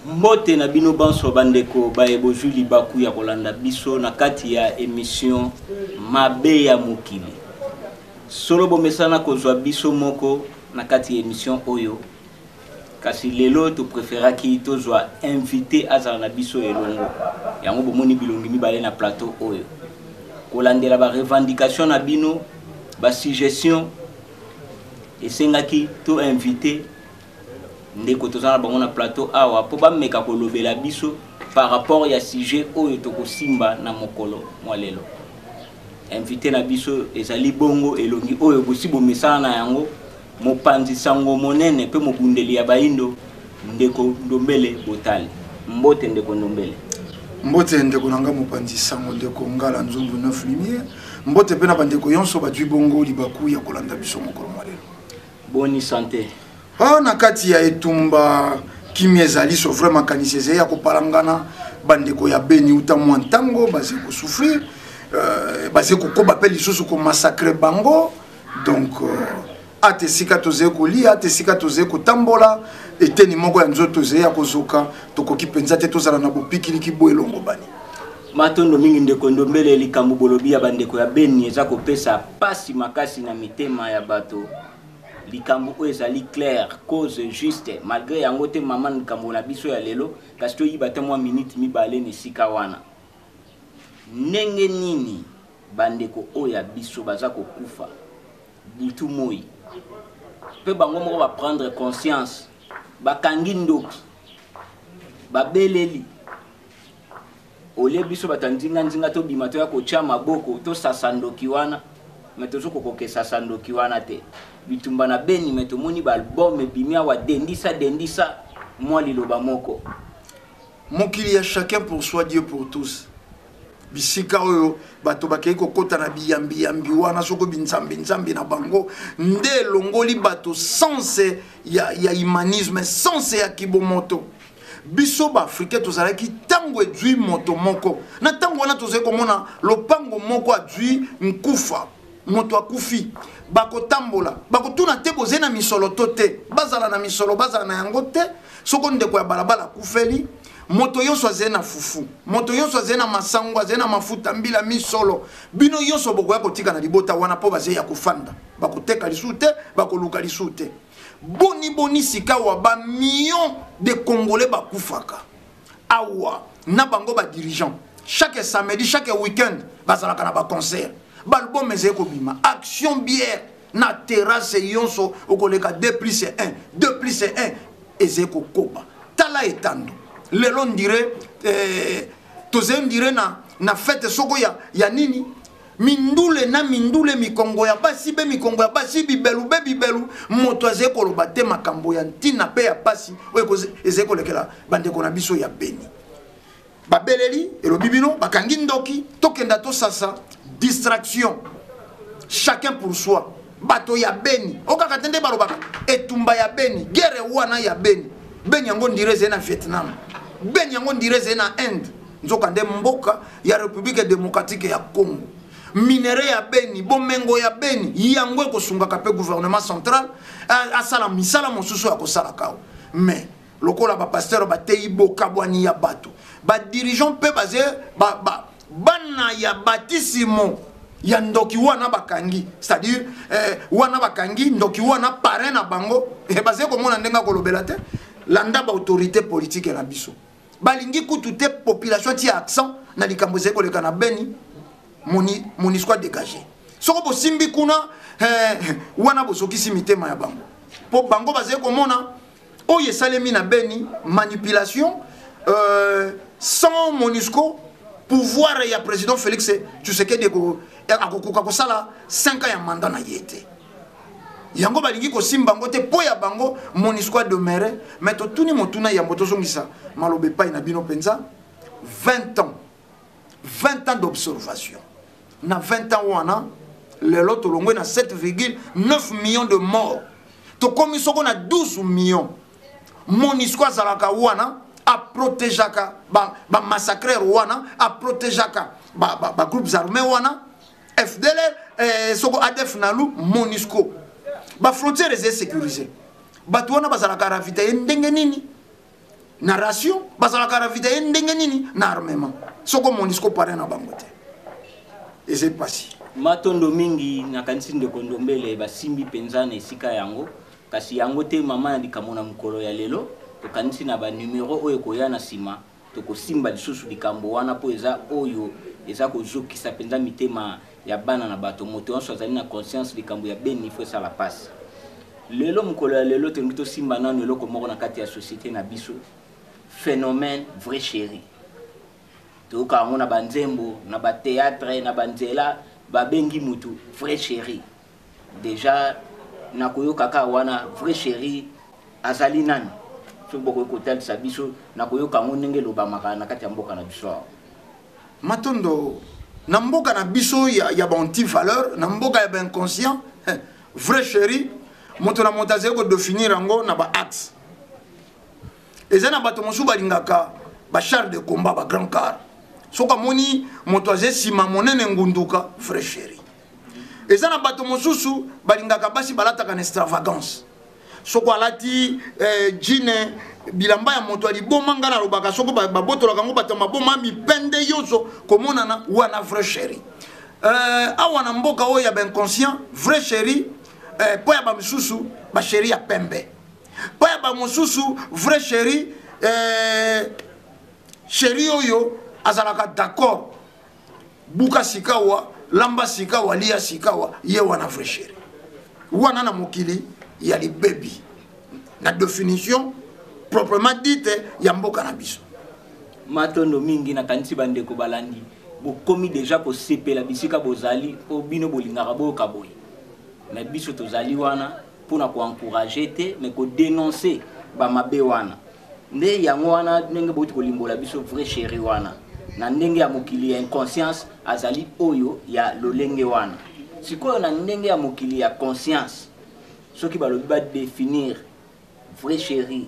Mbote na bino banso bandeko baye bozwi libaku ya kolanda biso na kati ya emission Mabe ya mokili. Solo bomesana kozwa biso moko na kati ya emission oyo kasi lelo to preferaki tozwa invité azala na biso elongo yango bomoni bilongi mibale na plateau oyo kolandela ba revendication na bino ba suggestion esengaki to invité ndeko toza na bango na plateau awa mpo bameka kolobela biso par rapport ya sujet oyo tokosimba na mokolo mwa lelo invité na biso ezali bongo elongi oyo bosi bomesana na yango mopanzi sango monene mpe mobundeli ya bayindo ndeko ndombele botali mbote ndeko ndombele mbote ndeko na ngai mopanzi sango ndeko ngala nzungu 9 lumière mbote mpe na bandeko yonso bazwi bongo libaku ya kolanda biso mokolo mwa lelo boni sante oh, na kati ya etumba kimia ezali so vrai makanisi ezali ya kopalangana bandeko ya beni uta mwa ntango bazali kosouffrir euh, bazali kokoba mpe lisusu komasakre bango donc euh, ata esika tozali kolia ata esika tozali kotambola eteni moko ya nzoto ezali ya kozoka tokoki mpenza te tozala na bopikiliki bo elongobani Matondo mingi ndeko Ndombele, likambo bolobi ya bandeko ya Beni eza kopesa pasi makasi na mitema ya bato. Likambo oyo ezali claire, cause juste. Malgre yango te maman likambo na biso ya lelo, kasi toyiba ata mwa minute mibale na esika wana. Ndenge nini bandeko oyo ya biso baza kokufa butu moi mpe bango moko ba prendre conscience, bakangi ndoki, babeleli olie biso bato ya nzinga nzinga tobima toya kotia maboko tosasa ndoki wana me tozo kokokesasa ndoki wana te bitumba na beni me tomoni ba album ebimi awa dendisa dendisa mwa liloba moko mokili ya chacun pour soi dieu pour tous bisika oyo bato bakei kokota na biyambiyambi wana soko binzambinzambi na bango nde elongoli bato sense ya, ya humanisme sense ya kibomoto biso baafricain tozalaki ntango ejui moto moko na ntango wana tozali komona lopango moko ajui nkufa moto akufi bakotambola bakotuna te bozali na misolo to te bazala na misolo bazala na yango te soko ndeko ya balabala akufeli moto nyonso azali na fufu moto nyonso azali na masango azali na mafuta mbila misolo bino nyonso bokoya kotika na libota wana mpo bazali ya kofanda bakoteka lisusu te bakoluka lisusu te boni boni sikawa ba millions de congolais bakufaka awa na bango ba dirigeant chaque samedi chaque week-end bazalaka na baconcert balbum ezali kobima action bière na terrasse yonso okoleka 2 plus 1 2 plus 1 ezali kokoba tala etando lelo ndire eh, tozali ndire na, na fete soko ya, ya nini mindule na mindule mikongo ya basi be mikongo ya basi bibelu be bibelu moto azali koloba te makambo ya ntina mpe ya mpasi oyo ezali kolekela bandeko na biso ya beni babeleli elobi bino bakangi ndoki tokenda tosasa distraction chacun pour soi bato ya beni o kaka te nde balobaka etumba ya beni guerre wana ya beni beni yango ndire ezali na vietnam beni yango ndire ezali na inde nzokande mboka ya république démocratique ya congo minere ya beni bomengo ya beni yango ekosungaka mpe gouvernement central asala misala mosusu akosalaka mais lokola ba pasteur ba teyi bokabwani ya bato ba dirigeant mpe baze ba, ba, bana ya batisimo ya ndoki wana bakangi c'est-à-dire eh, wana bakangi ndoki wana parrain na bango eh, baze komona ndenge akolobela te landa baautorité politike na biso balingi kutu te population ti accent na likambo ezali koleka na beni monisco adégage soko bosimbi kuna eh, wana bozokisi mitema ya bango mpo bango bazali komona oyo esalemi na beni manipulation euh, sans monusco pouvoir ya président félix tshisekedi akokoka kosala 5 ans ya manda na ye te yango balingi kosimba yango te mpo ya bango monisco ademeure mai totuni motuna yambo tozongisa maloba epai na bino mpenza 20 ans 20 ans d'observation na 20 ans wana lelo tolongwe na 7,9 millions de morts tokomi soko na 12 millions monisco azalaka wana aprotegeaka bamassacreur ba wana aprotegeaka bagroupes ba, ba armés wana fdlr eh, soko adf nalu monisco bafrontière eza sécurisé bato wana bazalaka ravitaye ndenge nini na ration bazalaka ravitaye ndenge nini na armement soko monisco pare na bango te eza mpasi matondo mingi nakanisi ndeko ndombele basimbi mpenza na esika yango kasi yango te mama na likambo na mokolo ya lelo tokanisi na banumero oyo ekoya na nsima tokosimba lisusu likambo wana mpo eza oyo eza kozokisa mpenza mitema ya bana na bato moto yonso azali na conscience likambo ya beni ifo esala pasi lelo mokolo ya lelo tolingi tosimba nano eloko moko na kati ya société na biso phénomène vrai chéri toyoka yango na banzembo na bateatre na banzela babengi motu vrai chéri dejà nakoyoka kaka wana vrai cheri azali nani soki bokoki kotalisa biso na koyoka yango ndenge elobamaka na kati ya mboka na biso awa matondo na mboka na biso ya, ya baanti valeur na mboka ya bainconscient eh, vrai chéri moto na moto azali kodefinir yango na baaxe eza na bato mosusu balingaka bachar de combat bagrand car soki amoni moto aza nsima monene ngunduka vrai chéri eza na bato mosusu balingaka basi balataka na extravagance soko alati eh, jine bilamba ya moto ya liboma ngai nalobaka soko babotolaka yango bato ya maboma mipende nyonso komonana wana vrai chéri eh, awa na mboka oyo ya bainconscient vrai chéri eh, mpo ya bamisusu basheri ya pembe mpo ya bamosusu vrai chéri eh, chéri oyo azalaka d'accord buka sikawa lamba sikawa lia sikawa ye wana vrai chéri wana na mokili ya libebi na définition proprement dite ya mboka na biso matondo mingi nakanisi bandeko balandi bokomi deja kosepela bisika bozali mpo bino bolingaka boyoka boye me biso tozali wana mpo na koencourage te me kodenonse bamabe wana nde yango wana ndenge bouti kolimbola biso vrai chéri wana na ndenge ya mokili ya inconscience azali oyo ya lolenge wana sikoyo na ndenge ya mokili ya conscience soki balobi badefinir vrai chéri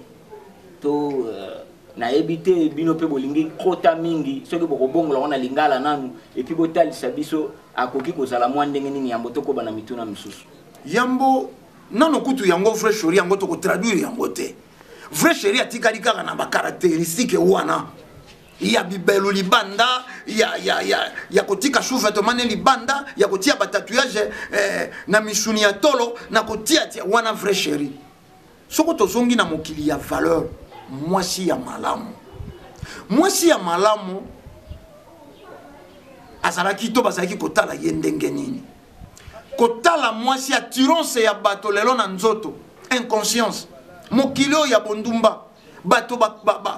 to euh, nayebi te bino mpe bolingi kota mingi soki bokobongola yango na lingala nanu epuis botalisa biso akoki kozala mwa ndenge nini yambo tokoba na mituna misusu yambo nano kutu yango vrai shori yango tokotraduire yango te vrai chéri atikali kaka na bacaractéristique wana ya bibelu libanda ya, ya, ya, ya kotika shuvetemane libanda ya kotia batatouage eh, na misuni ya tolo na kotiatia wana vrai chéri soko tozongi na mokili ya valeur mwasi ya malamu mwasi ya malamu azalaki to bazalaki kotala ye ndenge nini kotala mwasi ya tironse ya bato lelo na nzoto inconscience mokili oyo ya bondumba bato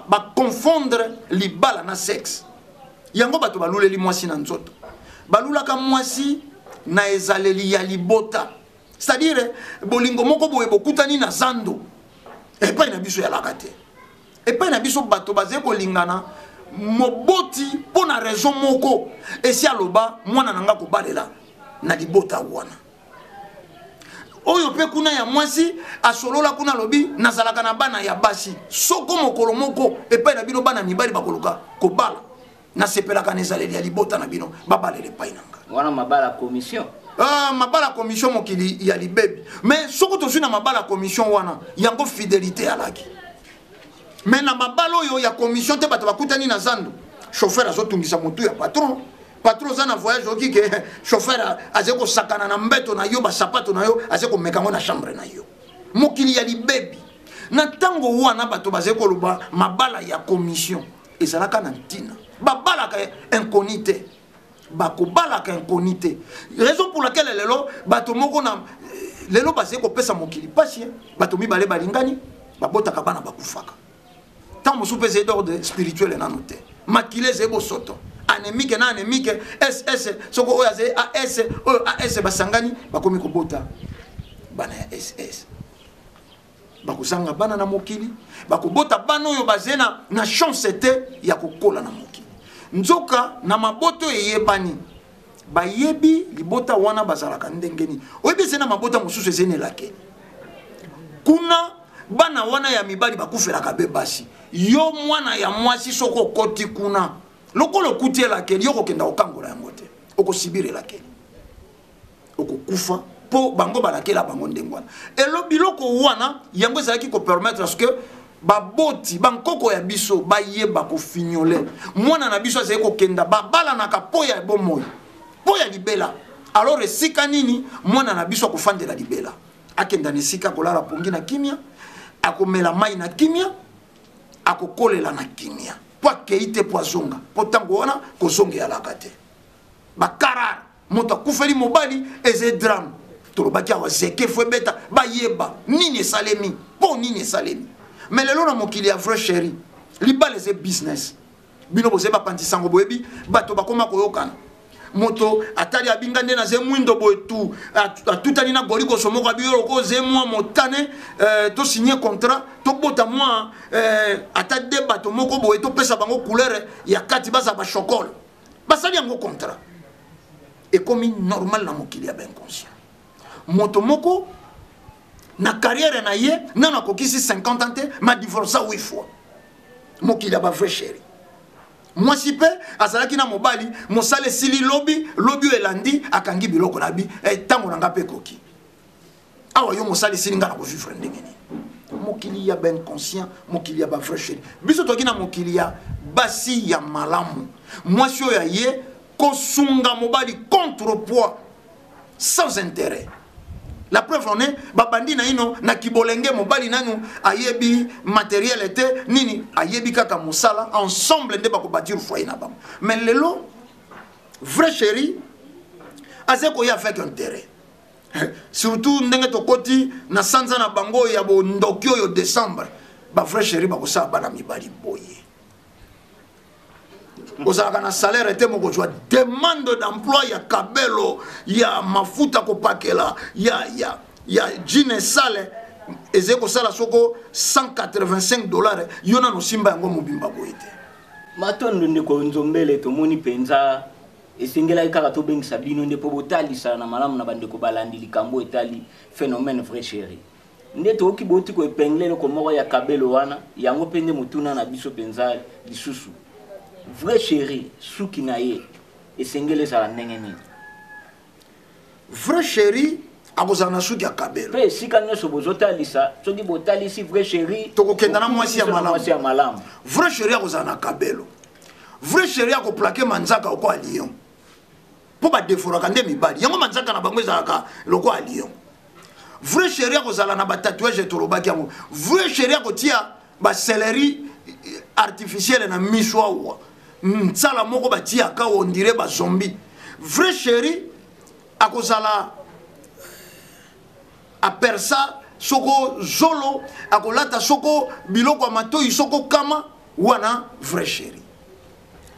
baconfondre ba, ba, ba libala na sexe yango bato baluleli mwasi na nzoto balulaka mwasi na ezaleli ya libota c'est-à-dire bolingo moko boye bokutani na zando epai na biso yalaka te epai na biso bato bazali kolingana moboti mpo na raison moko esi aloba mwana na ngai kobalela na libota wana oyo mpe kuna ya mwasi asolola kuna alobi nazalaka na bana ya basi soko mokolo moko epai na bino bana mibali bakoluka kobala nasepelaka na ezaleli ya libota na bino babalela epai na nga wana mabala commission Uh, mabala commission mokili ya libebi mais soki tozwi na mabala commission wana yango fidelité alaki mais na mabala oyo ya commission te bato bakutani na zando chauffeur azotungisa motu ya patron patron oza na voyage oki ke chauffeur azali kosakana na mbeto na yo basapato na yo azali komeka yango na chambre na yo mokili ya libebi na ntango wana bato bazali koloba mabala ya commission ezalaka na ntina babalaka inconi te bakobalaka inconi te raison pour laquelle lelo bato moko na lelo bazali kopesa mokili mpasi bato mibale balingani babotaka bana bakufaka ntango mosusu mpe ezali d'ordre spirituel nano te makila ezali bosoto anemike na anemike ss soko oyo azali as oyo as basangani bakomi kobota bana ya ss bakozanga bana na mokili bakobota bana oyo baze na, na chance te ya kokola na mokili nzoka na maboto eyebani bayebi libota wana bazalaka ndenge nini oyebi eze na mabota mosusu eze na elakeli kuna bana wana ya mibali bakufelaka be basi yo mwana ya mwasi soki okoti kuna lokola okuti elakeli yo kokenda kokangola yango te okosibira elakeli okokufa mpo bango balakela bango ndenge wana elo biloko wana yango ezalaki kopermettre ce que baboti bankoko ya biso bayeba kofignole mwana na biso azali kokenda babalanaka mpo ya bomoi mpo ya libela alors esika nini mwana na biso akofandela libela akenda na esika akolala pongi na kimia akomela mai na kimia akokolela na kimia mpo akei te mpo azonga mpo ntango wana kozongelaka te bakarare moto akufeli mobali eze drame tolobaki awa zeke fo ebeta bayeba nini esalemi mpo nini esalemi me lelo na mokili ya vrai chéri libala eze business bino bozeyi bapanzi sango boyebi bato bakoma koyokana moto atali abinga nde naze mwindo boye tu atutani na golikoso moko abi yo loko oze mwa motane eh, tosigne contrat tobota mwa eh, ata de bato moko boye topesa bango couleur ya kati baza bashokole basali yango contrat ekomi normal na mokili ya bainconscient moto moko na carrière na ye nano akokisi 50 ans te madivorsa 8 fois mokili ya bavrai chéri mwasi mpe azalaki na mobali mosala esili lobi lobi oyo elandi akangi biloko na bi ntango eh, na ngai mpe ekoki awa yo mosali esili ngai na kovivre ndenge nini mokili ya bainconscient mokili ya bavrai cheri biso toki na mokili ya basi ya malamu mwasi oyo aye kosunga mobali contre poids sans intérêt la preuve en est babandi naino na kibolenge mobali nanu ayebi materiele te nini ayebi kaka mosala ensemble nde bakobatire foyer na bango mais lelo vrai chéri aza koya avec intérêt eh, surtout ndenge tokoti na sanza na bango ya bondoki oyo décembre bavrai chéri bakosala bana mibali boye ozalaka na salaire te mokozwa demande d'emploi ya kabelo ya mafuta kopakela ya, ya, ya jine sale ezali kosala soko 185 dollars yo nano osimba yango mobimba boye te matondo ndeko nzombele tomoni mpenza Esengelaki kaka tobengisa bino nde mpo botalisana na malamu na bandeko balandi likambo etali phenomène vraie cherie. Nde toyoki bouti ko epingler eloko moko ya kabelo wana, yango mpe nde motuna na biso mpenza lisusu. Vraie cherie, suki na ye esengeli ezala ndenge nini? Vrai chéri akozala na suki ya kabelo mpe esika nyonso bozotalisa soki botalisi vrai chéri tokokenda na mwasi ya malamu vrai chéri akozala na kabelo vrai chéri akoplake manzaka lokola lion mpo badeforaka nde mibali yango manzaka na bango ezalaka lokola lion vrai chéri akozala na batatuage tolobaki yango vrai chéri akotia ba celery artificielle na miso awa nsala moko batiyaka ondire ba zombie vrai chéri akozala apersa soko zolo akolata soko biloko ya matoi soko kama wana vrai chéri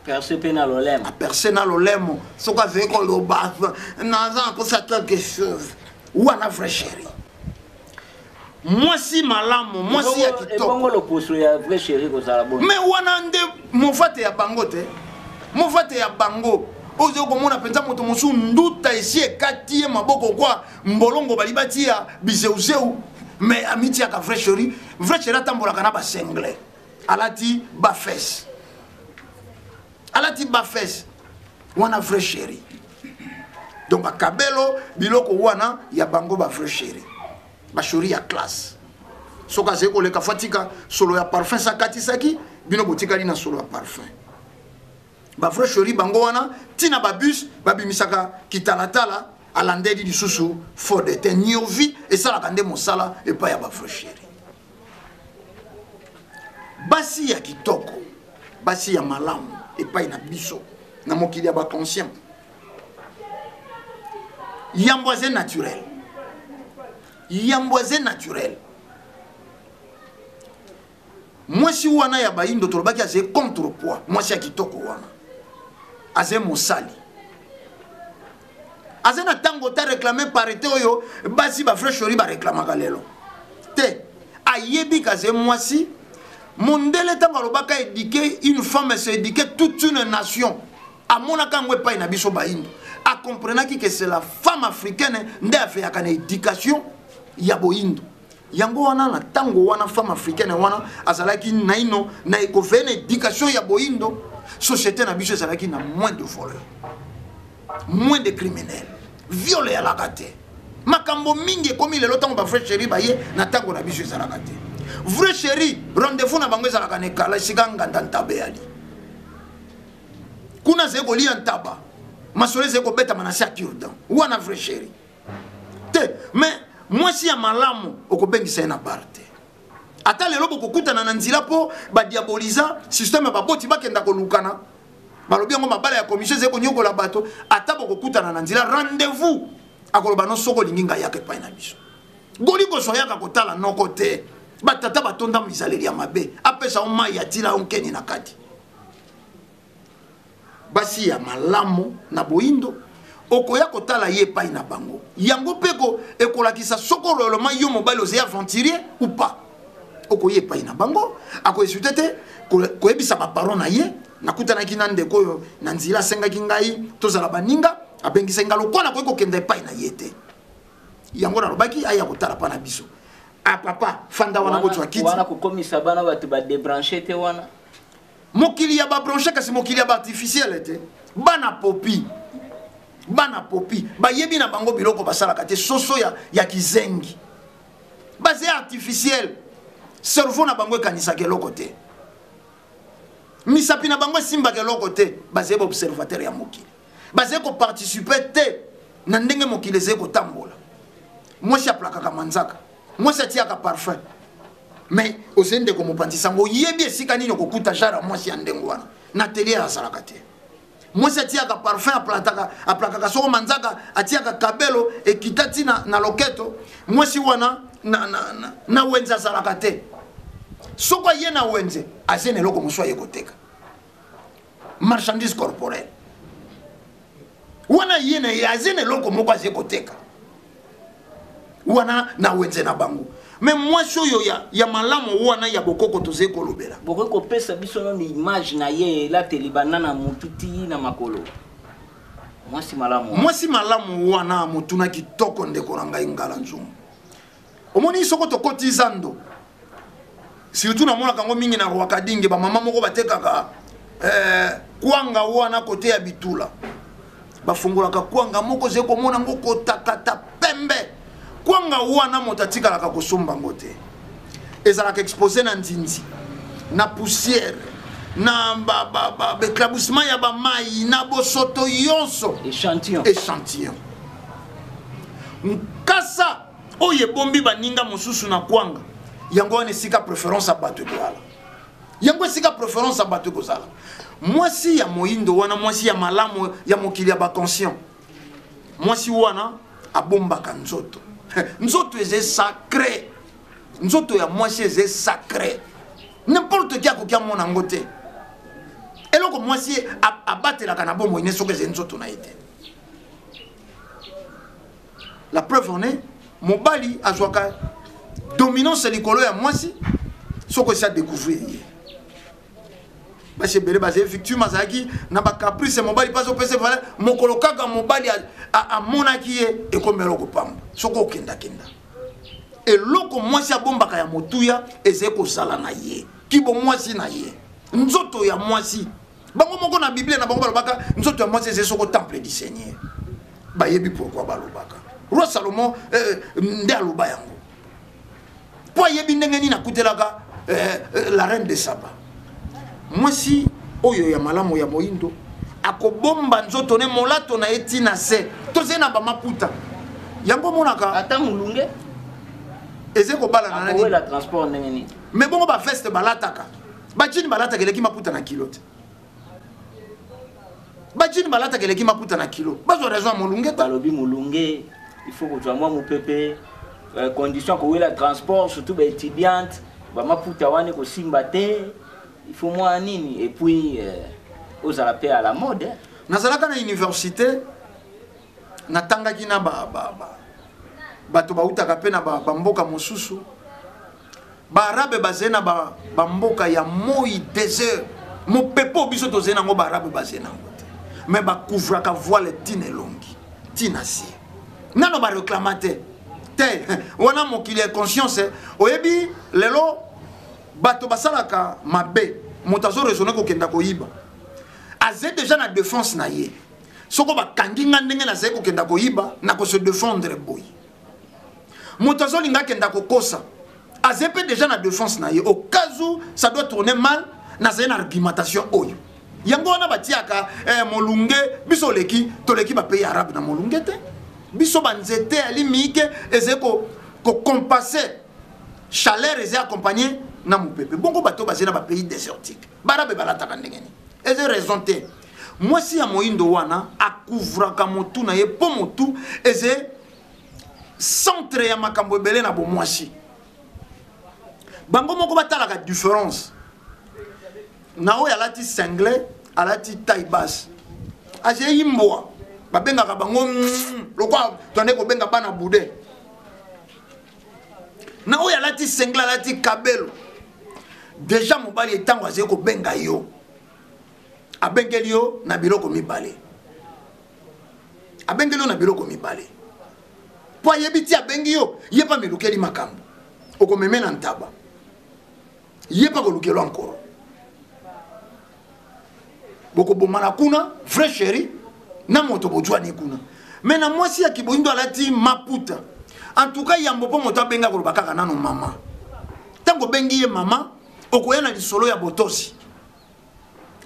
perce mpe na lolemo aperce na lolemo soki azali koloba naza nakosa quelque chose wana vrai chéri mwasi malamu mwasi ya kitoko loposo ya vrai chéri kozala bo mais wana nde mofate ya bango te mofate ya bango ozo komona mpenza moto mosusu nduta esi ekati ye maboko kwa mbolongo bali batiya bizeuzeu mais amitiaka vrai chéri vrai chéri atambolaka na basengle alati ba fesse alati ba fesse wana vrai chéri donc akabelo biloko wana ya bango ba vrai chéri bashori ya classe soki azali koleka fo atika solo ya parfum se akatisaki bino botikali na solo ya parfum bavrai shori bango wana ntina babus babimisaka kitalatala alandeli lisusu fo de te niovi esalaka nde mosala epai ya bavrai sheri basi ya kitoko basi ya malamu epai na biso na mokili ya baconscient yambo aze naturel yambo aze naturel mwasi wana ya bayindo tolobaki aze contre poids mwasi ya kitoko wana aze mosali aza na ntango ta réclame parité oyo basi ba vrai shori bareklamaka lelo te ayebi kaze mwasi mondele ntango alobaka éduquer une femme se éduquer toute une nation amonaka yango epai na biso bayindo akomprenaki ke c'est la femme africaine nde aveyaka na éducation ya boyindo yango wana na ntango wana femme africaine wana azalaki naino na ekofeye na éducation ya boyindo société na biso ezalaki na moins de voleur moins de criminel viole eyalaka te makambo mingi ekomi lelo ntango bavrai chéri baye na ntango na biso ezalaka te vrai chéri rendez-vous na bango ezalaka na ekala esika nganda ntaba eyali kuna azali kolia ntaba masolo ezali kobetama na se ya curdan wana vrai chéri te mais mwasi ya malamu okobengisa ye na bar te ata lelo bokokutana na nzela mpo badiaboliza systeme ya baboti bakenda kolukana balobi yango mabala ya commission ezali konyokola bato ata bokokutana na nzela rendez-vous akoloba no soki olingi ngai yaka epai na biso goli kozwa yaka kotala noko te batata batonda mizaleli ya mabe apesa yo mai ya tila yo nkeni na kati basi ya malamu na boindo okoya kotala ye epai na bango yango mpe ekolakisa soko loloma yo mobali ozali aventurier ou pas okoya epai na bango akoesute te koyebisa baparon na ye nakutanaki na ndeko oyo na nzela asengaki ngai tozala baninga abengisaki ngai lokola nakoki kokenda epai na ye te yango nalobaki aya kotala mpa na biso a ah, papa fanda wana bozwa kiti wana kokomisa bana bato badebranche te wana mokili ya ba branche kasi mokili ya ba artificiele te bana popi bana popi bayebi na bango biloko basalaka te soso ya, ya kizengi baze artificiele cerveau na bango ekanisaka eloko te misapi na bango esimbaka eloko te bazali baobservateur ya mokili bazali koparticipe te na ndenge mokili ezali kotambola mwasi aplakaka manzaka mwasi atiyaka parfum mais ozali ndeko mopanzi sango oyebi esika nini okokuta genre ya mwasi ya ndenge wana na tele azalaka te mwasi atiyaka parfum aplataka aplakaka soko manzaka atiyaka kabelo ekita ti na, na loketo mwasi wana na, na, na, na wenze azalaka te soko aye na wenze aze na eloko mosusu aye koteka marchandise corporelle wana ye na ye aza na eloko moko aza koteka wana na wenze na bango me mwasi oyo ya, ya malamu wana ya bokoko tozali kolobela bokoki kopesa biso nano image na ye elateli banda na motu ti na makolo mwasi malamu mwasi malamu wana motuna kitoko ndeko na ngai ngala nzungu omoni soko tokoti zando surtout namonaka yango mingi na rwakadinge bamama moko batekaka eh, kwanga wana kote ya bitula bafungolaka kwanga moko ozali komona yango kotakata pembe kwanga wana moto atikalaka kosomba yango te ezalaka expose na nzinzi na poussière na baeclaboussement ya bamai na bosoto yonso échantillon nkasa oyo ebombi baninga mosusu na kwanga yango wana esika preference ya bato ekozala yango esika preference ya bato ekozala mwasi ya moindo wana mwasi ya malamu ya mokili ya baconscient mwasi wana abombaka nzoto nzoto eze sacre nzoto ya mwasi eze sacre n'importe qui akoki amona yango te eloko mwasi abatelaka na bomoi ne soki eze nzoto na ye te la preuve en est mobali azwaka dominance likolo ya mwasi soki esi adecouvrir ye basi ebele bazali victime azalaki na bacaprice mobali mpe azopesa valeur mokolo kaka mobali amonaki ye ekomi eloko pamba soki okendakenda eloko mwasi abombaka ya motuya ezali kozala na ye kibomwasi na ye nzoto ya mwasi bango moko na biblia na bango balobaka nzoto ya mwasi ezali soko temple du seigneur bayebi pourkui balobaka roi salomon eh, nde aloba yango mpo ayebi ndenge nini akutelaka eh, eh, la reine de saba mwasi oyo ya malamu ya moindo akobomba nzoto ne molato na ye ti na se tozali na bamaputa yango omonaka ata molunge eze kobalana na nini me bongo baveste balataka bajini balataka eleki maputa na kilo te bajini balataka eleki maputa na kilo bazwa raison ya molunge te balobi molunge il faut kozwa mwa mopepe euh, condition kowela transport surtout baétudiante bamaputa wana ekosimba te il faut mwa nini et puis euh, ozala mpe à la mode nazalaka na université natangaki na bato ba, ba, ba, bautaka mpe na bamboka ba, ba mosusu ba arabe bazali na bamboka ya moi desert mopepe oyo biso tozali nango ba arabe bazali nango te me bakouvraka voile ntina elongi ntina se nano bareklama te te wana mokili ya conscience eh. oyebi lelo bato basalaka mabe moto azo raisonne kokenda koyiba aza deja na defense na ye soko bakangi nga ndenge nazali kokenda koyiba na kose defendre boye moto azolinga akenda kokosa aze mpe deja na defense na ye au cas où ça doit tourner mal nazali na argumentation oyo yango wana batiaka eh, molunge biso oleki toleki bapays arabe na molunge te biso banzete ya limike ezali kocompasse chaleur ezali accompagne na mopepe bongo bato bazali na bapays désertique barabe balataka ndenge nini eza raison te mwasi ya moindo wana akouvraka motu na ye mpo motu eze centre ya makambo ebele na bomwasi bango moko batalaka différence na oyo alati single alati taille basse azei mbwa babengaka bango mm, lokola tonde kobenga bana bude na oyo alati single alati kabelo deja mobali etango azei kobenga yo abengeli yo na biloko mibale abengeli yo na biloko mibale mpo ayebi ti abengi yo ye mpe amilukeli makambo okomeme na ntaba ye mpe akolukelwa nkolo bokobomana kuna vrai chéri na moto bojwani kuna me na mwasi ya kiboindo alati maputa en tout cas yambo mpo moto abenga koloba kaka nano mama ntango obengi ye mama okoya na lisolo ya botosi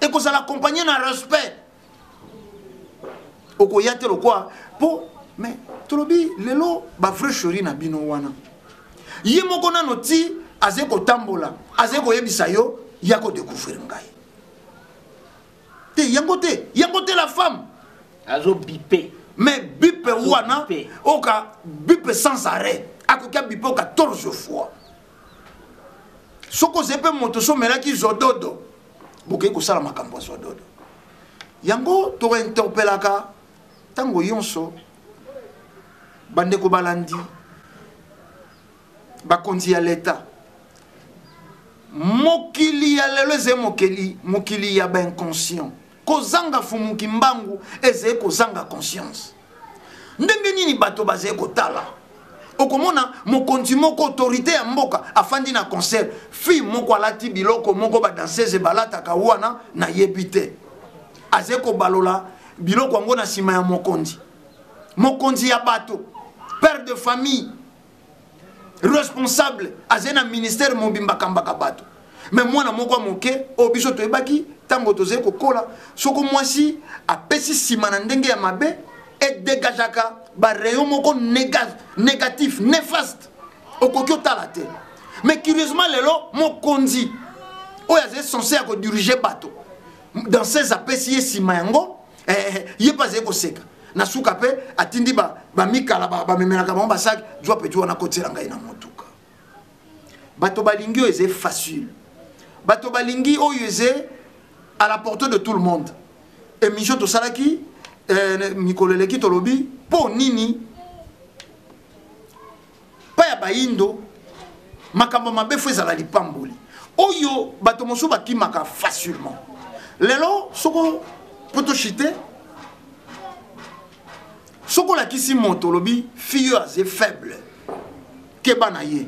ekozala accompagne na respect okoya te lokwa mpo mais tolobi lelo bavrai cheri na bino wana ye moko nano ti azali kotambola azali koyebisa yo ya kodecouvrir ngai te yango te yango te la femme azo bipe mais bipe wana oka bipe sans arrêt akoki abipe 14 fois soki ozali mpe moto so omelaki zododo bokei kosala makambo ya zododo yango tointerpelaka ntango yonso bandeko balandi bakonzi ya leta mokili ya lelo ezali mokili ya bainconscient Kozanga fumu kimbangu ezali kozanga conscience. Ndenge nini bato bazali kotala okomona mokonzi moko autorité ya mboka afandi na concert fille moko alati biloko moko badansese balataka wana nayebi te azali kobalola biloko yango na nsima ya mokonzi mokonzi ya bato père de famille responsable azali na ministère mobimba akambaka bato me mwana moko ya moke oyo biso toyebaki ntango tozali kokola soko mwasi apesi nsima na ndenge ya mabe edegageaka barayon moko négatif néfaste okoki otala te mais curieusement lelo mokonzi oyo azali sense ya kodirige bato dans ses apesi ye nsima yango eh, ye mpe azali koseka na suka mpe atindi bamikala ba bamemelaka bango basaki zwa peti wana kotiela ngai na motuka bato balingi oyo eze facile bato balingi oyo eze à la portée de tout le monde émission tosalaki eh, mikolo eleki tolobi mpo nini epai ya bayindo makambo mabe fo ezala lipamboli oyo bato mosusu bakimaka facilement lelo soko potoshite soki olakisi moto olobi fille oyo aze faible keba na ye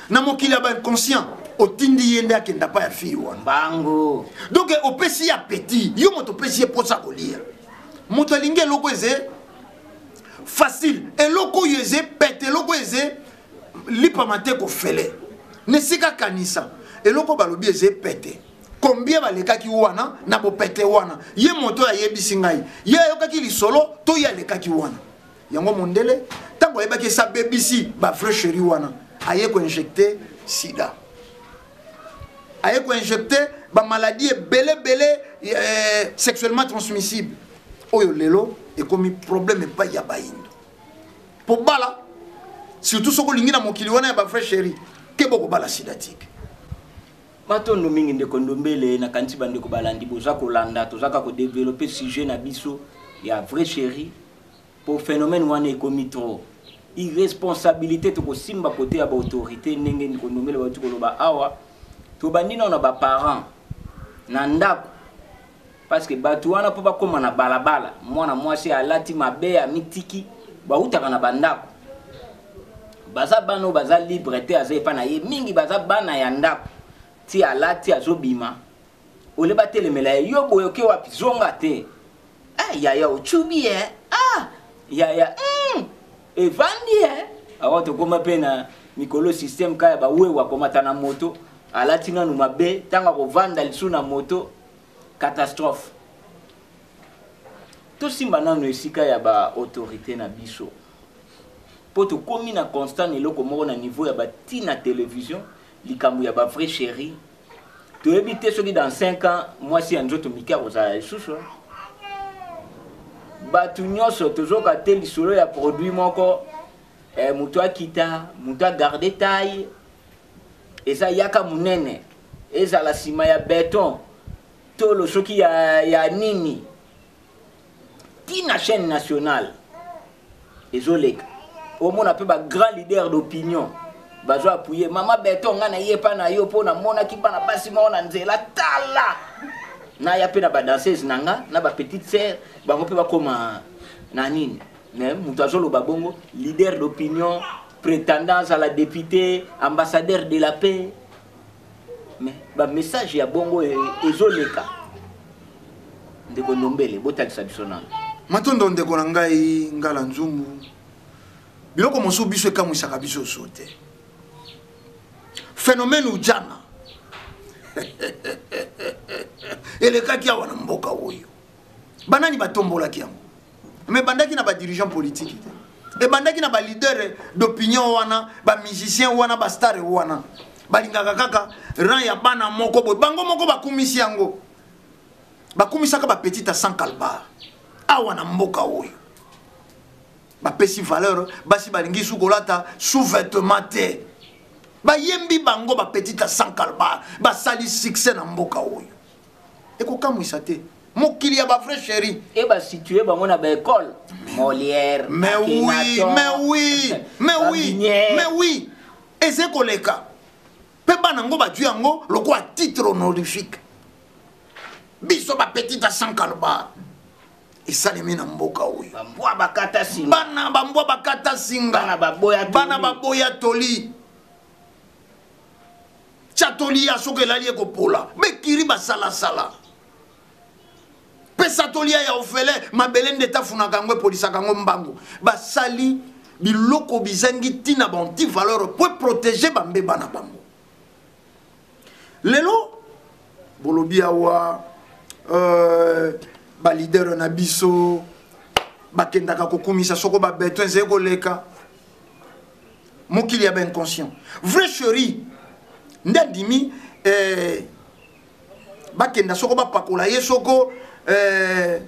na mokili ya bainconscient otindi ye nde akenda pa ya fille wana bango donc opesi ye apeti yo moto opesi ye mposa kolia moto alingi eloko eze facile eloko oyo eze pete eloko oyo eze lipama te kofele na esika kanisa eloko balobi eze pete combien balekaki wana na bopete wana ye moto oyo ayebisi ngai ye ayokaki lisolo to ye alekaki wana yango mondele ntango ayebaki esi abebisi bavrai cheri wana aye koinjecte sida aye koinjecte bamaladi ebele ebele eh, sexuellement transmissible oyo lelo ekomi problème epai ya bayindo mpo bala surtout soki olingi na mokili wana ya bavrai chéri te bokobala sida tike matondo mingi ndeko ndombele nakanisi bandeko balandi boza kolanda tozaka kodevelope sujet na biso ya vrai chéri Po phenomène wana ekomi trop irresponsabilite tokosimba kote ya ba autorites ndenge Nikondombele bauti koloba awa tobandi nao na ba parents na ndako parce que batu wana po bakoma na balabala mwana mwasi alati mabe amitiki bautaka na bandako baza bana oyo baza libre te aza epa na ye mingi baza bana ya ndako ti alati azobima ole batelemela ye yo boye oke wapi zonga te ah, yaya ocubi ye eh? ah, yaya mm, evandi ye eh? awa tokoma mpe na mikolo systeme ka ya bawewa akomata na moto alati nanu mabe ntango akovanda lisu na moto catastrophe tosimba nanu esika ya baautorité na biso mpo tokomi na constant na eloko moko na niveau ya batina television likambo ya bavrai chérie toyebi te soki dans 5 ans mwasi ya nzoto mike akozala lisusu bato nyonso tozoka te lisolo ya produit moko eh, moto akita moto agarde taille eza yaka monene ezala nsima ya beton tolo soki ya, ya nini ti na chaîne nationale ezoleka omona mpe ba grand leader d'opinion bazo appuye mama beton ngai naye epa na yo mpo namonaki bana basi moko na nzela tala naya mpe na badanseuse na nga na bapetite sere bango mpe bakoma na nini me moto azoloba bongo leader d'opinion prétendance à la députée ambassadeur de la paix mais ba message ya bongo e, ezoleka ndeko ndombele botalisa biso nano matondo ndeko na ngai ngala nzumbu biloko mosusu biso ekamwisaka biso so te phénomène ujana elekaki awa na mboka oyo banani batombolaki yango mais ebandaki na ba dirigeant politique te ebandaki na ba leader d'opinion wana ba musicien wana ba star wana balingaka kaka rang ya bana moko boye bango moko bakumisi yango bakumisaka bapetite ya sans calbar awa na mboka oyo bapesi valeur basi balingi su kolata sous-vêtement te bayembi bango bapetite ya sans calbar basali succès na mboka oyo ekokamwisa te mokili ya ba vrai chéri e ba situer bango na ba école Molière mais oui mais oui mais oui mais oui eze koleka mpe bana yango bajui yango lokola titre honorifique biso bapetit ya sankalba esalemi na mboka oyo bana bambwa bakata singa bana baboya toli Chatoli ya soki elali ekopola. Bekiri basalasala. Pesa tolia ya ofele mabele nde tafunaka yango epolisaka yango mbangu. Basali biloko bizangi ntina ba anti valeur mpo eprotege bambeba na bango. Lelo bolobi awa euh, balidere na biso bakendaka kokumisa soko babeton ezali koleka mokili ya bainconscient vrai cheri nde andimi eh, bakenda soko bapakola ye soko eh,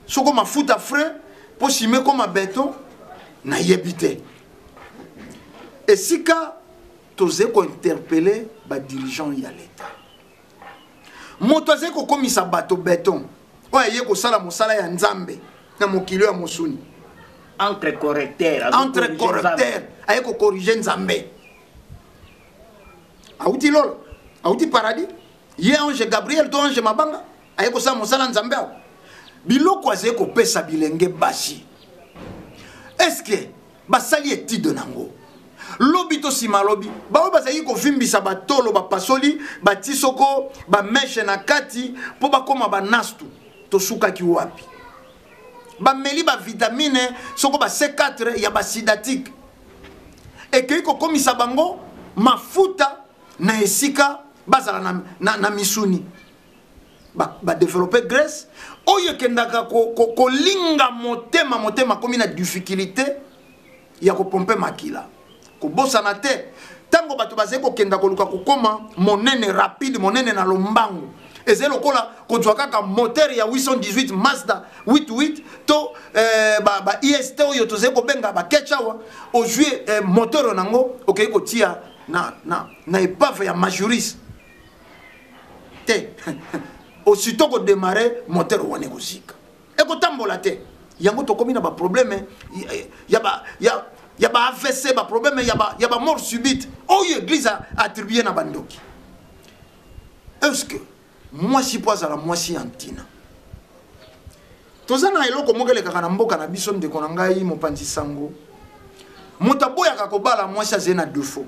soko mafuta frais mpo sima ekoma beton nayebi te esika tozali kointerpele badirigeant ya leta moto azali kokomisa bato beton oyo aye kosala mosala ya nzambe na mokili oyo ya mosuni entre correcteur entre correcteur aye kokorige nzambe awuti lolo awuti paradis ye ange gabriel to ange mabanga aye kosala mosala nzambe awa biloko azali kopesa bilenge basi estce basali etude na yango lobi to nsima lobi baoyo bazalaki kovimbisa batolo bapasoli bati soko bameshe na kati mpo bakoma banastu tosukaki wapi bameli bavitamine soko ba c4 ya basidatike ekei kokomisa bango mafuta na esika bazala na, na, na misuni badeveloppe ba grace oyo ekendaka kolinga ko, ko motema motema akomi na difficulté ya kopompe makila kobosana te ntango bato bazali kokenda koluka kokoma monene rapide monene na lombango ezali lokola kozwa kaka moteur ya 818 mazda 88 to eh, ba, ba ist oyo tozali kobenga baketch awa ozwi eh, moteur na yango okei kotia na, na, na epave ya majuris te osito kodemare moteur wana ekozika ekotambola te yango tokomi na baproblème ya ba ya ya ba avc baproblème ya ba ya ba mort subite oyo église attribue na bandoki est ce que mwasi mpo azala mwasi ya ntina toza na eloko moko elekaka na mboka na biso ndeko na ngai mopanzi sango moto aboyaka kobala mwasi azali na defaut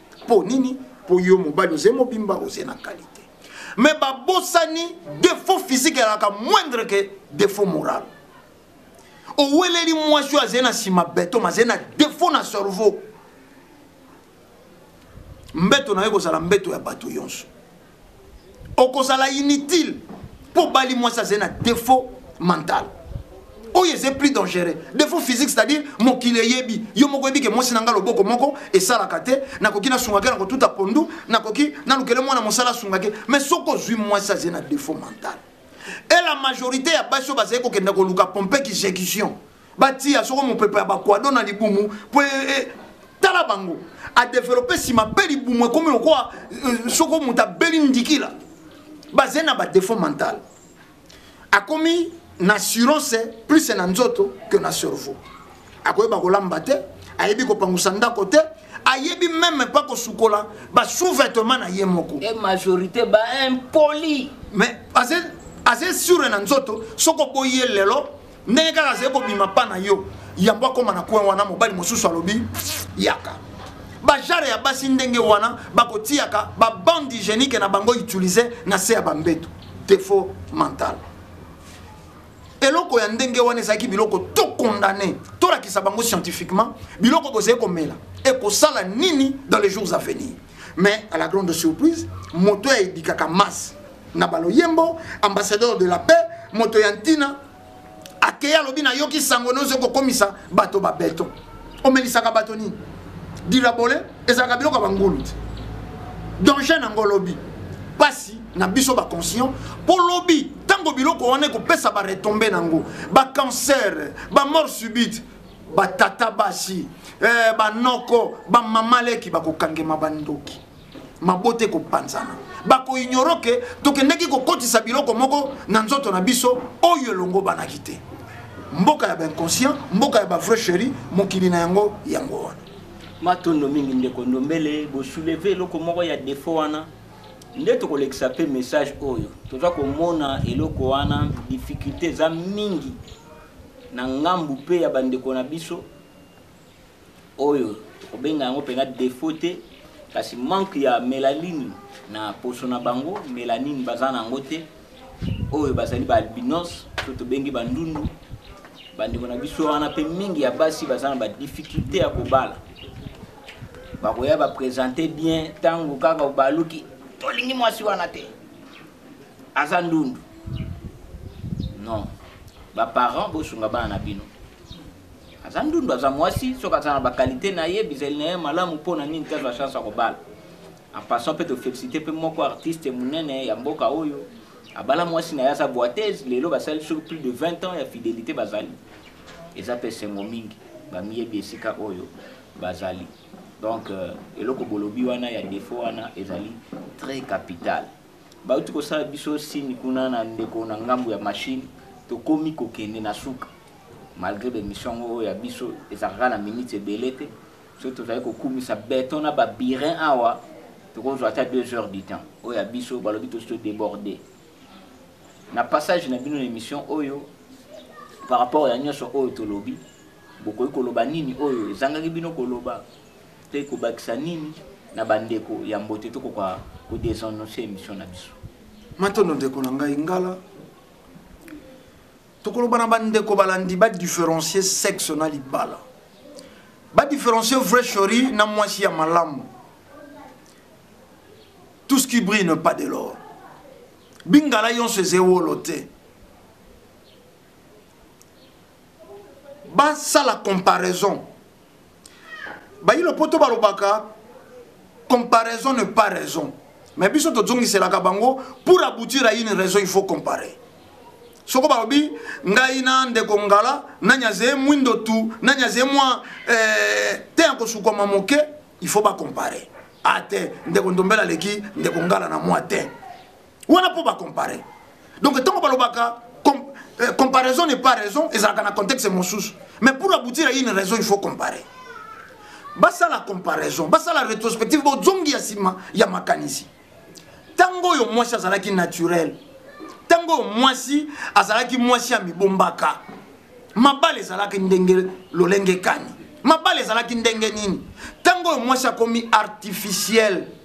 mpo nini mpo yo mobali oze mobimba oze na qualité mais babosani défaut physique ezalaka moindre ke défaut moral oweleli mwasi oyo azali na nsima beton azali na défaut na cerveau mbeto na yo ekozala mbeto ya bato yonso okozala inutile mpo obali mwasi azali na defaut mental oyo eza plus dangereux defaut physique c'est-à-dire mokili eyebi yo moko oyebi ke mwasi na ngai loboko moko esalaka te nakoki nasunga ke na kotuta pondu nakoki nalukele mwana mosala asunga ke mais soki ozwi mwasi azali na defaut mental et la majorité ya basi oyo bazali kokenda koluka pompe exécution batiya soko mopepe ya bakwado na libumu mpo e, e, tala bango adevelope nsima mpe libumu ekomi lokola e, soko moto abeli ndikila bazali na badefo mental akomi na assurance plus na nzoto que na cerveau akoyeba kolamba te ayebi kopangusa ndako te ayebi meme pa kosukola basous-vêtement na ye moko e majorité baimpoli mais aza sur na nzoto soki oboyi ye lelo ndenge kaka azali kobima pa na yo yambo akoma na coin wana mobali mosusu alobi yaka bajare ya basi ndenge wana bakotiyaka babande hygiénique na bango utilise na se ya bambeto defo mental eloko ya ndenge wana ezalaki biloko to condamne tolakisa bango scientifiquement biloko bozali komela ekosala nini dans les jours à venir mais à la grande surprise moto ya edikaka masse na baloyembo ambassadeur de la paix moto ya ntina akei alobi nayoki sango nyonso kokomisa bato babeton omelisaka bato nini dilabole ezalaka biloko ya bangulu te danger nango lobi mpasi na biso baconscient mpo lobi ntango biloko wana ekopesa baretombe nango bacancer bamort subite batata basi eh, banoko bamama leki bakokangema bandoki mabota ekopanzana bakoignoro ke tokendaki kokotisa biloko moko na nzoto na biso oyo elongobanaki te mboka ya bainconscient mboka ya bavrai chéri mokili na yango yango wana matondo mingi ndeko ndombele bosouleve eloko moko ya defo wana nde tokolekisa mpe message oyo toza komona eloko wana difficulté eza mingi na ngambu mpe ya bandeko na biso oyo tokobenga yango mpenza defaut te kasi manque ya melaline na poso na bango melanine baza na yango te oyo bazali baalbinos to tobengi bandundu bandeko na biso wana mpe mingi ya basi baza na badifficulte ya kobala bakoya bapresente bien ntango kaka obaluki tolingi mwasi wana te aza ndundu non baparent bosunga bana na bino aza ndundu aza mwasi soki aza na bakalite na ye bizali na ye malamu mpo na nini te azwa chance ya kobala en passant mpe tofélicité mpe moko artiste monene ya mboka oyo abala mwasi na ye aza boitese lelo basali soki plus de 20 ans ya fidélité bazali eza mpe esengo mingi bamiyebi esika oyo bazali donc euh, eloko bolobi wana ya defo wana ezali très capital bauti kosala biso sini kuna na ndeko na ngambo ya mashine tokomi kokende na suka Malgre ba emission yango oyo ya biso ezalaka na minutes ebele te soki tozali kokumisa beton na ba birin awa tokozwa ata 2 heures du temps oyo ya biso balobi tosi to deborde na passage na bino na emission oyo par rapport ya nyonso oyo tolobi bokoki koloba nini oyo ezangaki bino koloba te kobakisa nini na bandeko ya mbote tokoka kodesannonce emission na biso matondo ndeko na ngai ngala tokoloba na bandeko balandi badifferencie sexe na libala badifferencie vrai chori na mwasi ya malamu tout ce qui brille ne pas de l'or bingala yonso eza ewolo te basala comparaison bayi lopoto balobaka comparaison ne pas raison mais biso tozongiselaka bango pour aboutir à une raison il faut comparer soko balobi ngai na ndeko ngala nani azeye mwindo tu nani azeye mwa eh, te ya kosukwama moke il faut bacompare a ah, te ndeko ndombela aleki ndeko ngala na mwa te wana mpo bacompare donc ntango balobaka euh, comparaison n'est pas raison ezalaka na contexte mosusu mais pour aboutir à une raison il faut comparer basala comparaison basala rétrospective bozongi ya nsima ya makanisi ntango oyo mwasi azalaki naturel ntango oyo mwasi azalaki mwasi ya mibombaka mabala ezalaki ndenge lolenge kani mabala ezalaki ndenge nini ntango oyo mwasi akomi artificiel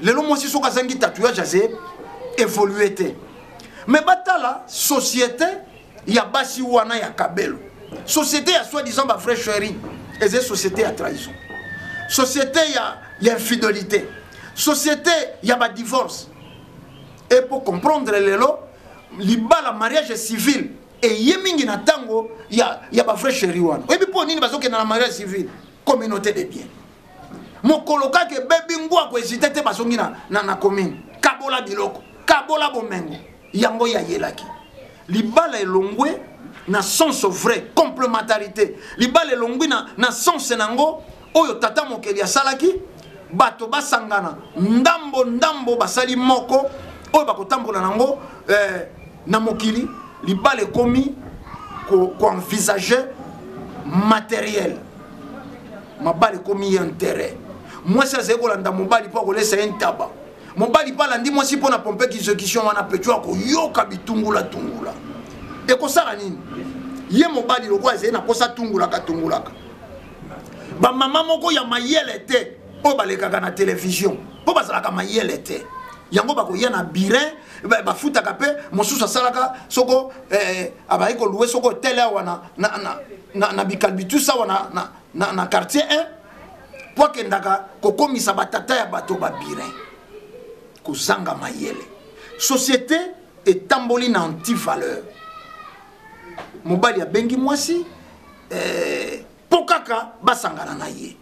lelo mwasi soki azangi tatouage aze évolue te me batala société ya basi wana ya kabelo société ya soi disant ba vrai sharing eza société ya trahison société ya, ya infidélité société ya ba divorce e mpo comprendre lelo libala mariage civil eye mingi na ntango ya, ya ba vrai sharing wana oyebi mpo nini bazokenda na mariage civil communauté de bien mokolo kaka ebebi ngwa koezite te bazongi na, na, na commune kabola biloko kabola bomengo yango yayelaki libala elongwe na sens vrai complementarité libala elongwi na, na sens na yango oyo tata mokeli asalaki bato basangana ndambo ndambo basali moko oyo bakotambola na yango eh, na mokili libala ekomi koenvisage ko materiel mabala ekomi ye interet mwasi azali kolanda mobali mpo akolesa ye ntaba mobali mpe alandi mwasi mpo na pompe execution wana petro akoyoka bitungulatungula ekosala nini ye mobali lokola ezali na mposa tungulaka tungulaka bamama moko ya mayele te oyo balekaka na televizio mpo bazalaka mayele te yango bakoya na birin bafutaka mpe mosusu asalaka soko eh, abaki kolue soko hotel awa na, na, na na, na bikalbitus awa na, na, na, na quartier 1 mpo akendaka kokomisa batata ya bato babirin kozanga mayele société etamboli na antivaleur mobali abengi mwasi eh, mpo eh, kaka basangana na ye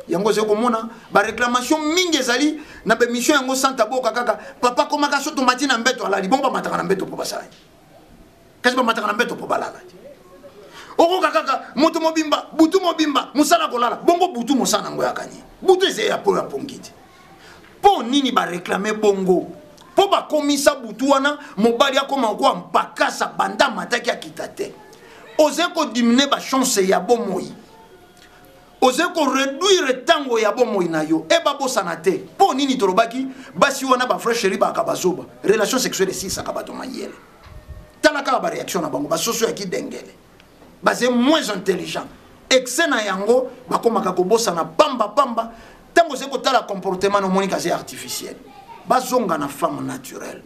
yango ozali komona baréclamation mingi ezali na baémission yango santa boka kaka papa komaka so tomati na mbeto alali bongo bamataka na mbeto mpo basala kasi bamataka na mbeto mpo balala te okoka kaka moto mobimba butu mobimba mosala kolala bongo butu mosala yango yakani butu eza ya po ya pongi te mpo nini bareklame bongo mpo bakomisa butu wana mobali akoma kokoa mpakasa banda amataki akita te oze kodimine bachance ya bomoi ozali koreduire ntango ya bomoi na yo e babosana te mpo nini tolobaki basi wana bavrai sheri baaka bazoba relation sexuelle esilisaka bato mayele tala kaka bareaction na bango basoso ya kidengele baze moins intelligent excès na yango bakomaka kobosana pamba pamba ntango ozali kotala comportement na omoni kaze artificiel bazonga na femme naturelle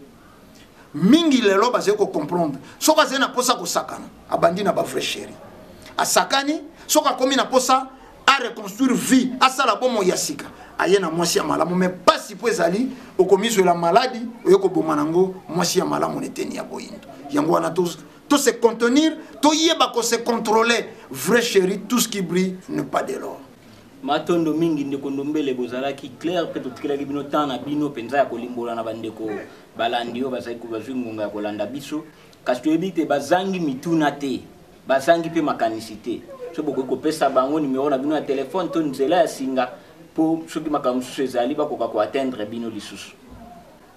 mingi lelo bazali kocomprendre soki azali na mposa kosakana abandi na bavrai chéri asakani soki akomi na mposa areconstruire vie asala bomoi ya sika aye na mwasi ya malamu me mpasi mpo ezali okomizwela maladi oye koboma nango mwasi ya malamu na eteni ya boyindo yango wana to se contenir toyeba ko se contrôler vrai chéri tout ce qui brille ne pas de l'or Matondo mingi ndeko Ndombele, bozalaki claire mpe totikelaki bino temps na bino mpenza ya kolimbola na bandeko balandi oyo bazali bazwi ngonga ya kolanda biso, kasi toyebi te bazangi mituna te, bazangi mpe makanisi te. Soki bokoki kopesa bango numero na bino ya telephone to nzela ya singa mpo soki makambo mosusu ezali bakoka ko atteindre bino lisusu.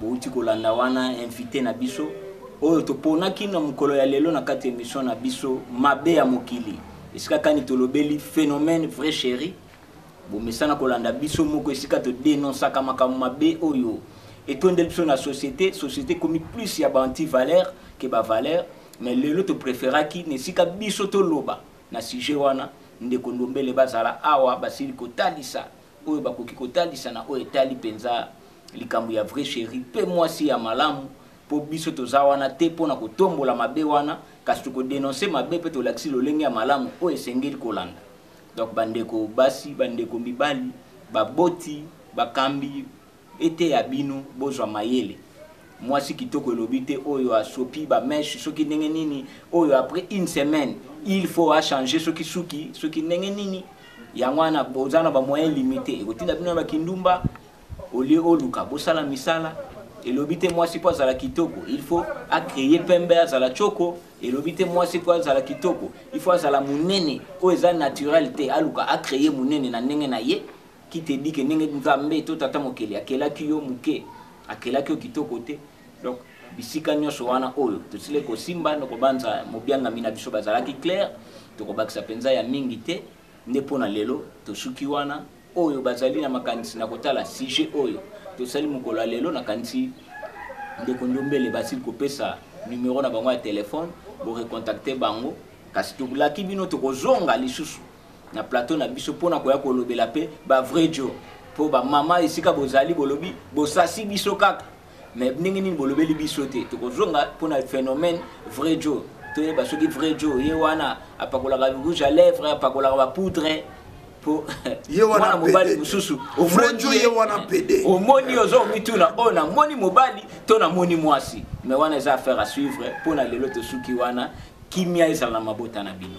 Bowuti kolanda wana invite na biso oyo toponaki na mokolo ya lelo na kati emission na biso mabe ya mokili esika kani tolobeli phenomène vrai chéri bomesana kolanda biso moko esika to denonsaka makambo mabe oyo etondeli biso na société société ekomi plus ya ba anti valeur ke ba valeur mais lelo to préféraki na esika biso toloba na sujet wana ndeko ndombele bazala awa basili kotalisa oyo bakoki kotalisa na oyo etali mpenza likambo ya vrai cheri mpe mwasi ya malamu mpo biso toza wana te mpo na kotombola mabe wana kasi tokodenonse mabe mpe tolakisi lolenge ya malamu oyo esengeli kolanda donc bandeko basi bandeko mibali baboti bakambi Eteya bino bozwa mayele. Mwasi kitoko elobi te oyo asopi ba meche soki ndenge nini oyo après une semaine il faut a changer soki suki soki ndenge nini yango wana boza na ba moyen limite ekotinda bino na ba kindumba au lieu oluka bosala misala elobi te mwasi po azala kitoko il faut a créer pembe azala choko elobi te mwasi po azala kitoko il faut azala munene oyo eza naturel te aluka a créer munene na ndenge na ye Qui te dit que ndenge Nzambe to Tata Mokeli akelaki yo moke, akelaki yo kitoko te? Donc, bisika nyonso wana oyo tosili kosimba, nokobanza mobiangami na biso bazalaki clair, tokobakisa mpenza ya mingi te, nde mpo na lelo tosuki wana. Oyo bazali na makanisi na kotala sujet oyo tosali mokolo ya lelo, nakanisi ndeko Ndombele basili kopesa numero na bango ya telephone, bo recontacter bango. Kasi tolaki bino tokozonga lisusu. na plateau na biso mpo na koya kolobela mpe ba vrai djo mpo bamama esika bozali bolobi bosasi biso kaka mais ndenge nini bolobeli biso te tokozonga mpo na phénomène vrai djo toyeba soki vrai djo ye wana apakolaka rouge à lèvre apakolaka bapoudre mpo mwana mobali mosusu omoni oza omituna oyo namoni mobali to namoni mwasi mais wana eza affaire à suivre mpo na lelo tosuki wana kimia ezala na mabota na bino